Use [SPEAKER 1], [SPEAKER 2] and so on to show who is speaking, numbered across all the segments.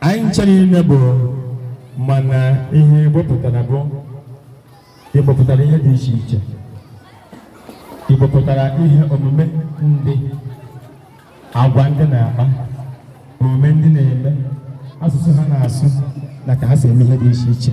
[SPEAKER 1] anyị chere ime bụ mana ihe Igbo pụtara bụ Igbo pụtara ihe dị iche iche Igbo pụtara ihe omume ndị agwa ndị na-akpa omume ndị na-eme asụsụ ha na-asụ na ka ha si eme ihe dị iche iche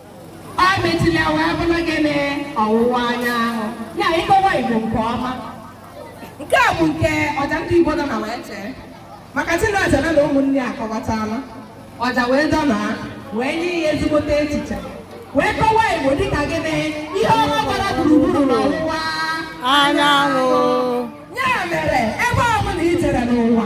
[SPEAKER 2] ọ mechiri ya wee bụrụ gịnị ọwụwa anyanwụ ya ịkọwa igbo nke ọma nke a bụ nke ọja ndị igbo nọ na wee chee maka Chinaza na ụmụnne akọwatala ọja wee dọna wee nye ya ezigbote echiche wee kọwa igbo dịka gịnị ihe ọma gbara gburugburu n'ọwụwa anyanwụ ya mere ebe ọbụla i jere n'ụwa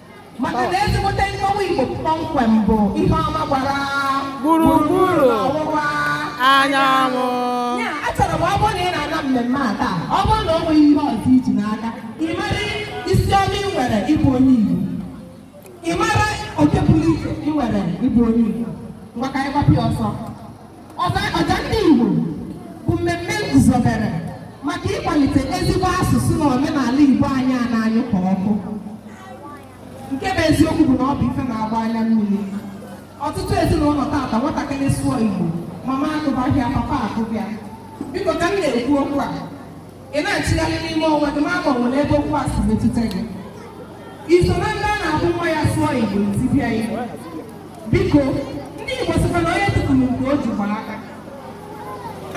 [SPEAKER 3] maka
[SPEAKER 2] na ezigbote nkọwa Igbo kpọmkwem bụ ihe ọma gbara
[SPEAKER 3] gburugburu
[SPEAKER 2] ọwụwa anyanwụ
[SPEAKER 3] ya
[SPEAKER 2] achọrọ m ọ bụrụ na ị na-ana mmemme a taa ọ bụrụ na o nweghị ihe ọzọ i ji naa ka ị mara isi ọma ị nwere ịbụ onye Igbo ị mara oke pụrụ iche ị nwere ịbụ onye Igbo ngwa ka anyị gbapụ ya ọsọ Ọja ndị Igbo bụ mmemme m guzobere maka ịkwalite ezigbo asụsụ na omenala Igbo anyị a na-anyụ ka ọkụ nke bụ eziokwu bụ na ọ bụ ife na-agba anya mmiri ọtụtụ ezinụlọ taata nwatakịrị sụọ Igbo mama akụba ya papa akụba ya biko ka m na-ekwu okwu a ị na-achịgharị n'ime onwe gị ma ma o nwere ebe okwu a si metụta gị i so na ndị a na-abụ nwa ya sụọ igbo i tibe ya biko ndị igbo sịkwa na onye tufuru nke o ji gbara aka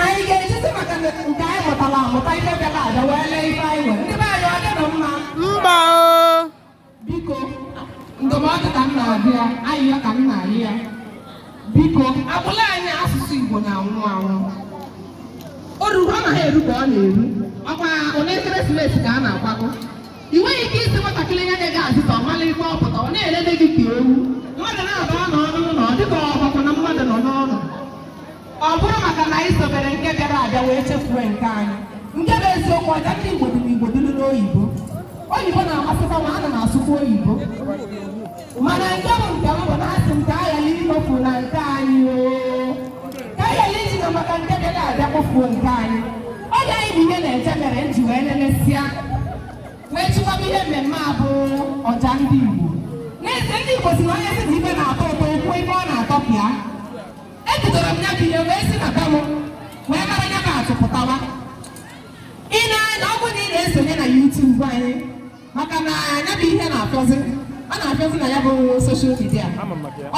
[SPEAKER 2] anyị ga-ejizi maka nke anyị mụtara amụta ife bịara abịa wee lee ife anyị nwere ndị be anyị ọ dịrọ mma mba o biko ndụmọdụ ka m na-abịa ayịyọ ka m na-ayịọ biko agbụla anyị asụsụ Igbo na-anwụ anwụ oru ọ naghị eru ka ọ na-eru ọkwa oge ekeresimesi ka a na-akwago ị nweghị ike ịsị nwatakịrị ya na-ege azụta ọ mara ife ọ pụta ọ na-elele gị ka ewu mmadụ na-aba n'ọnụ na ọ dịka ọgbakọ na mmadụ nọ n'ọnụ Ọ bụrụ maka na anyị sobere nke bịara abịa wee chefuo nke anyị. Nke bụ eziokwu ọja ndị Igbo dị n'Igbo dịrị n'oyibo. Oyibo na-amasịkwa m ana m asụkwa oyibo. Mana nke bụ nke m bụ na asị m ka a ghara ikpofu na nke anyị oo. Ka a ghara iji na maka nke bịara abịa kpofuo nke anyị. Ọ ya bụ ihe na-eje mere m ji wee lelesịa wee chịkọba ihe mmemme a bụ ọja ndị Igbo. N'ezie ndị Igbo si na onye sị na ibe na-atọ ụtọ okwu ebe ọ na-atọpịa. ebidoro m ya bụ ihe wee si na be m wee mara ya bụ atụ pụtawa ị na-anya ọ bụrụ na ị na-esonye na YouTube anyị maka na ya bụ ihe na-afụzi ọ na-afụzi na ya bụ soshal midia.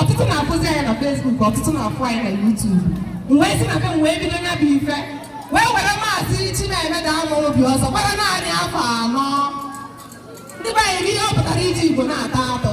[SPEAKER 2] ọtụtụ na-afụzi anyị na Facebook ọtụtụ na-afụ anyị na YouTube m wee si na be m wee bido ya bụ ife wee were maazị Chinemeda Amaobi ọzọ gbara naanị afọ anọ ndị be anyị ihe ọ pụtara iji Igbo na-ata atọ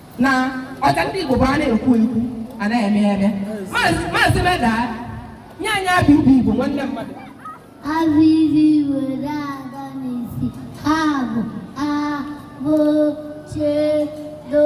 [SPEAKER 2] na ọja ndị Igbo bụ a na-ekwu ekwu a na-eme eme maazị Meda nye anyị abịdị Igbo nwanne mmadụ
[SPEAKER 4] abịdị were aga n'isi ha bụ abụ chedo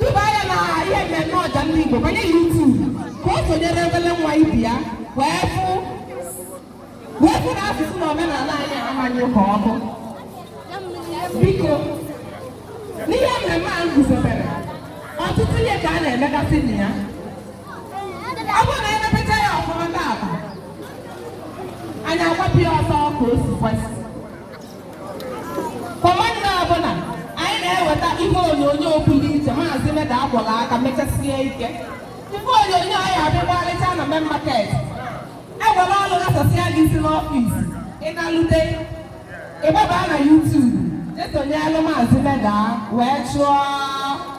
[SPEAKER 2] Duba ya na ihe mmemme ọja ndị Igbo banye YouTube ka o sonyere obere nwa ibe ya wee fụ na asụsụ na omenala anyị ama anyụ ka ọkụ. Biko, n'ihe mmemme a guzobere, ọtụtụ ihe ka a na-emegasị na ya. Ọ bụrụ na emepecha ya ọfụma taata, anyị agbapụ ya ọsọ ka o si kwesị. Kwa Mọnde ọbụla anyị na-eweta ihe onyonyo pụrụ iche maazị Meda a kwọrọ aka mechasie ike ife onyonyo ọ ya-abụ ị gbarịcha na main market e were ọrụ ghasasịa gị isi n'ọfịs ị nalute ị gbaba na YouTube i sonyelụ maazị Meda wee chụọ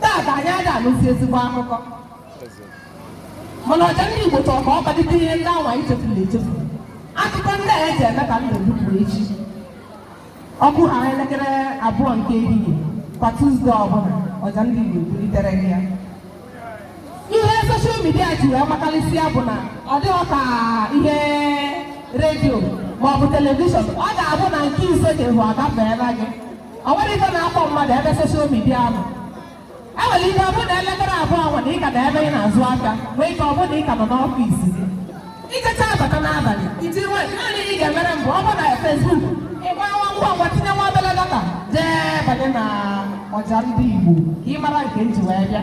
[SPEAKER 2] Taata anyị ada anụzi ezigbo akụkọ mana ọja ndị Igbo chọrọ ka ọ kpalite ihe ndị anwa e chefuru echefu akụkọ ndị a eji eme ka ndụ dupụrụ echi ọ kụhaa elekere abụọ nke ehihie kwa Tuzdee ọbụla ọja ndị Igbo ebulitere gị ya ihe soshal midia ji wee makarịsịa bụ na ọ dịghị ka ihe redio maọbụ telivishọn ọ ga-abụ na nke ị sị ị ga-ahụ agafeela gị ọ nwere ife na-akpọ mmadụ ebe soshal midia ahụ e nwere ike ọ bụrụ na elekere abụọ anwa na ị ka nọ ebe ị na-azụ aka nwee ike ọ bụrụ na ị ka nọ n'ọfịs gị i jecha abata n'abalị iti nwe naanị ị ga-emere m bụ ọ bụrụ na fesbuk ị gbaa ngwa ngwa tinye nwa obere data jee banye na ọja ndị Igbo ka ị mara nke m ji wee bịa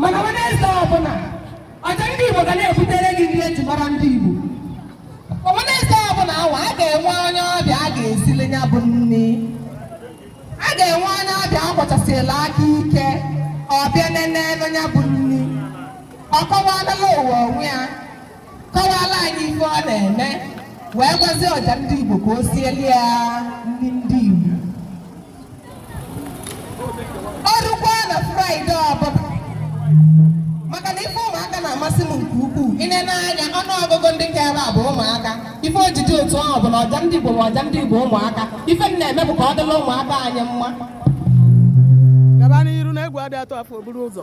[SPEAKER 2] mana Wenezde ọbụla ọja ndị Igbo ga na-ebutere gị nri eji mara ndị Igbo Wenezde ọbụla anwa a ga-enwe onye ọbịa a ga-esili ya bụ nri a ga-enwe onye ọbịa agbachasịla aka ike ọ bịa nene ya bụ nri ọ kọwalala ụwa onwe ya kọwala anyị ife ọ na-eme wee gwazie ọja ndị Igbo ka o sieli ya nri ndị o rukwaa na Fraịde ọbụla maka na ife ụmụaka na-amasị m nke ukwuu i nee anya ọnụ ọgụgụ ndị ka ebe a bụ ụmụaka ife o ji dị otu ahụ bụ na ọja ndị Igbo bụ ọja ndị Igbo ụmụaka ife m na-eme bụ ka ọ dịla ụmụaka anyị mma
[SPEAKER 3] gaba n'iru na egwu adị atụ afọ o buru ụzọ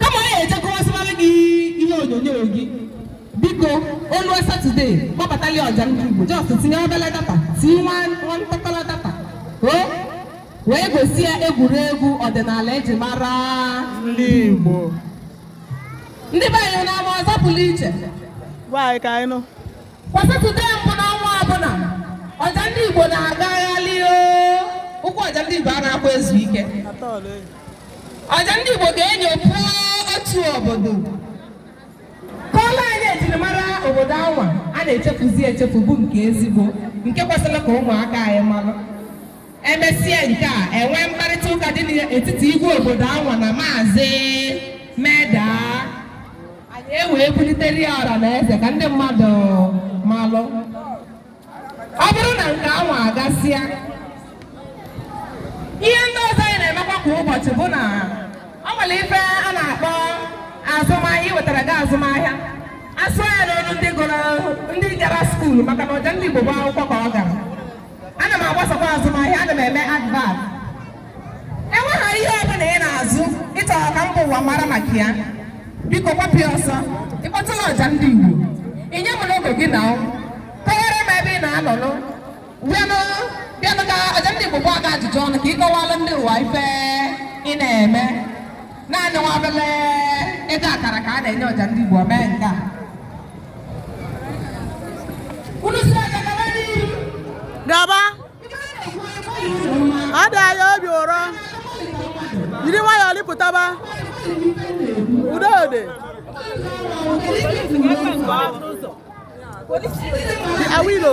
[SPEAKER 2] kama anyị ejekọwasịwara gị ihe onyonyo gị biko oluo satọde kpọbatali ọja ndị igbo just tinye obele data tinye nwa ntakọrọ data o wee gosi ya egwuregwu ọdịnala eji mara
[SPEAKER 3] ndị
[SPEAKER 2] Igbo ndị be anyị na-ama ọzọ pụrụ iche gwa anyị
[SPEAKER 3] ka anyị nụ kwa satọde
[SPEAKER 2] mbụ n'ọnwa ọbụla ọja ndị igbo na-agagharị o ụkwụ ọja ndị igbo a na-akwa ezu ike atọọlụ enyi ọja ndị Igbo ga-enyopụ otu obodo kọọla anyị ejirimara obodo anwa a na-echefuzi echefu bụ nke ezigbo nke kwesịrị ka ụmụaka anyị malụ emesịa nke a enwee mkparịta ụka dị n'etiti igwe obodo anwa na maazị meda anyị ewee bulitere ya ọra na eze ka ndị mmadụ malụ ọ bụrụ na nke anwa agasịa ihe ndị ọzọ anyị na-emekwa kwa ụbọchị bụ na ọ nwere ife a na-akpọ azụmahịa iwetara gị azụmahịa asụ ya n'olu ndị gụrụ ndị gara skuulu maka na ọja ndị Igbo bụ akwụkwọ ka ọ gara ana m agbasakwa azụmahịa ana m eme advert enweghị ihe ọbụla ị na-azụ ịchọrọ ka mba ụwa mara maka ya biko gbapụ ọsọ ịkpọtụlụ ọja ndị Igbo inye m n'oge gị na kọwara m ebe ị na-anọnụ bịanụ ka ọja ndị Igbo gba gị ajụjụ ọnụ ka ị kọwalụ ndị ụwa ife ị na-eme naanị nwa obele ego akara ka a na-enye ọja ndị Igbo mee nke a Gaba.
[SPEAKER 3] ọ dị anyị obi ụrọ jiri nwayọọ lipụtaba udode awilo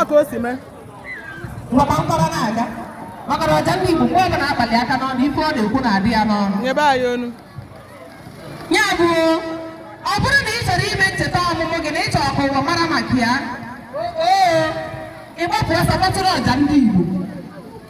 [SPEAKER 2] a ka o si mee
[SPEAKER 3] maka
[SPEAKER 2] mkpọrọ na-aga maka na ọja ndị Igbo mgbe ọ bụla akpali aka n'ọnụ ife ọ na-ekwu na-adị ya n'ọnụ nyebe anyị onu ya bụ ọ bụrụ na ị chọrọ ime ncheta ọmụmụ gị na ị chọrọ ka ụwa mara maka ya oo ịgbapụ ọsọ kpọtụrụ ọja ndị Igbo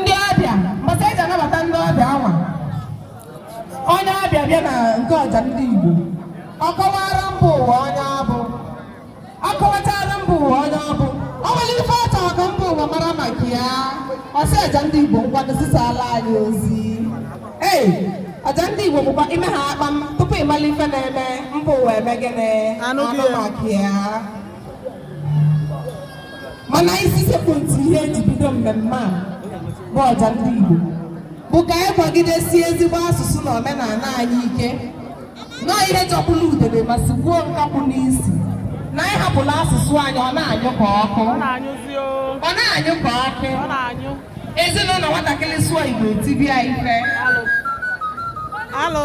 [SPEAKER 2] ndị ọbịa mbọsị eji anabata ndị ọbịa anwa onye ọbịa bịa na nke ọja ndị Igbo ọ kọwara mba ụwa onye ọ bụ ọ kọwachara mba ụwa onye ọ bụ ọ nwere ife ọ chọrọ ka mba ụwa mara maka ya ọ sị ọja ndị Igbo nkwado zisaala anyị ozi ee ọja ndị Igbo bụkwa ime ha akpa m tupu ịmala ife na-eme mba ụwa eme gịnị anụ maka ya mana isi sekpụ ntị ihe eji bido mmemme a bụ ọja ndị Igbo bụ ka anyị kwagidesie ezigbo asụsụ na omenala anyị ike na ọ ihe jọgburu udele ma sigbuo nkakwụ n'isi na anyị hapụla asụsụ anyị ọ na-anyụ ka ọkụ ọ na-anyụ ka ọkụ ezinụlọ nwatakịrị sụọ Igbo e tibe ya ife alụ.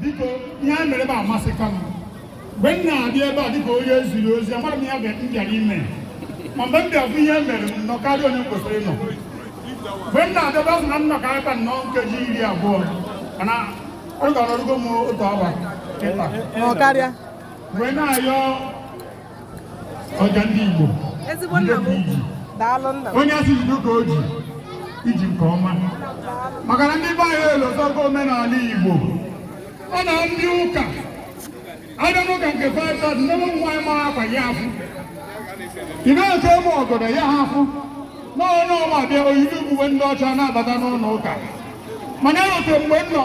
[SPEAKER 1] biko ihe a mere ebe a amasịka m mgbe m na-abịa ebe a dịka onye e ziri ozi amara m ihe m bịara ime ma mgbe m bịa bụ ihe mere m nọ karịa oge m kwesịrị ịnọ mgbe m na-abịa m sị na m nọkarịa m nọọ nkeji iri abụọ mana anọrugo m otu awa
[SPEAKER 3] kịta nọkarịa mgbe
[SPEAKER 1] na-ayọ ọja ndị Igbo ezigbo nna m ukwu daalụ nna m onye a sị jide ka o ji i ji nke ọma maka na ndị be anyị elozọgo omenala Igbo ọ na ndị ụka abịa n'ụka nke Fada ndị ụmụ nwaanyị mara akwa ya afụ ị na-eche ụmụ ọgọdọ ya ha afụ na onye ọma bịa o yibe uwe ndị ọcha na-abata n'ụlọ ụka mana erote mgbe m nọ